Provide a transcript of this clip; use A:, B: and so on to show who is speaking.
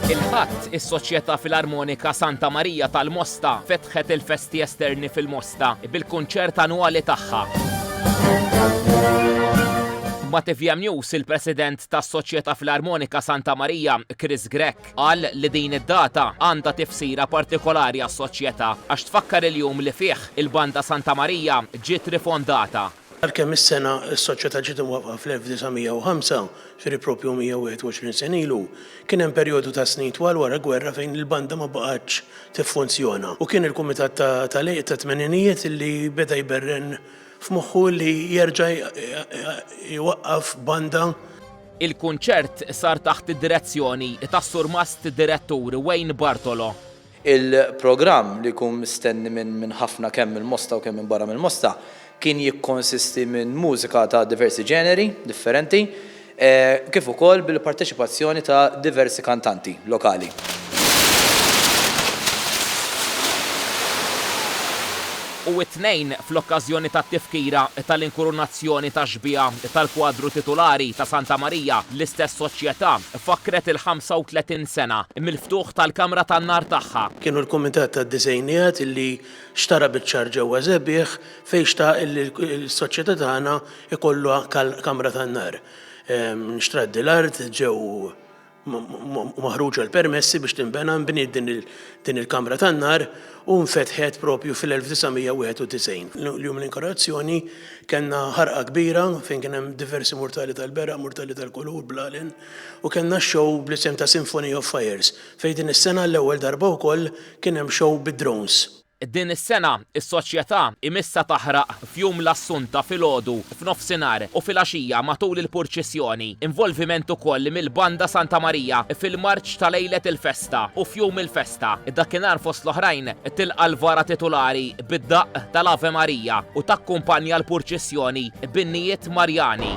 A: Il-Ħadd, is-Soċjetà Filarmonika Santa Marija tal-Mosta fetħet il-festi esterni fil-Mosta bil-kunċert annwali tagħha. Ma' TVM News, il-President tas-Soċjetà Filarmonika Santa Marija, Chris Grech, qal li din id-data għandha tifsira partikolari għas-Soċjetà għax tfakkar il-jum li fih il-Banda Santa Marija ġiet rifondata. Għalkemm is-sena
B: s-Soċjetà ġiet imwaffqa fl-1905, ġifieri proprju 121 sena ilu, kien hemm perjodu ta' snin twal wara l-gwerra fejn il-banda ma baqgħetx tiffunzjona u kien il-Kumitat tal-Għeluq tat-Tmeninijiet li beda jberren f'moħħu li jerġa' jwaqqaf banda. Il-kunċert
A: sar taħt id-direzzjoni tas-Surmast Direttur Wayne Bartolo. Il-programm,
C: li jkun mistenni minn ħafna kemm mill-Mosta u kemm minn barra mill-Mosta, kien jikkonsisti minn mużika ta' diversi ġeneri differenti, kif ukoll bil-parteċipazzjoni ta' diversi kantanti lokali.
A: u t-Tnejn fl-okkażjoni tat-tifkira tal-inkurunazzjoni tax-xbieha tal-kwadru titulari ta' Santa Marija, l-istess Soċjetà fakkret il-35 sena mill-ftuħ tal-kamra tan-nar tagħha. Kienu l-Kumitat
B: tad-Disgħinijat li xtara biċ-ċar ġewwa Żebieħ fejn xtaq li s-Soċjetà tagħna jkollha kamra tan-nar. Nxtrat dil-art ġew maħruġa l-permessi biex tinbena nbniet din il-kamra tan-nar u nfetħet propju fil-1991. L-jum l-inkorazzjoni kellna ħarqa kbira fejn kien hemm diversi murtali tal-bera, murtali tal-kulur, blalen u kellna show bl-isem ta' Symphony of Fires fejn din is-sena l-ewwel darba wkoll kien hemm show bid-drones. Din is-sena,
A: is-Soċjetà imissha taħraq f'Jum l-Assunta filgħodu, f'nofsinhar u filgħaxija matul il-purċissjoni. Involviment ukoll mill-Banda Santa Marija fil-marċ ta' lejlet il-festa u f'jum il-festa. Dakinhar fost l-oħrajn tilqa' l-vara titulari bid-daqq tal-Ave Maria u takkumpanja l-purċissjoni b'innijiet Marjani.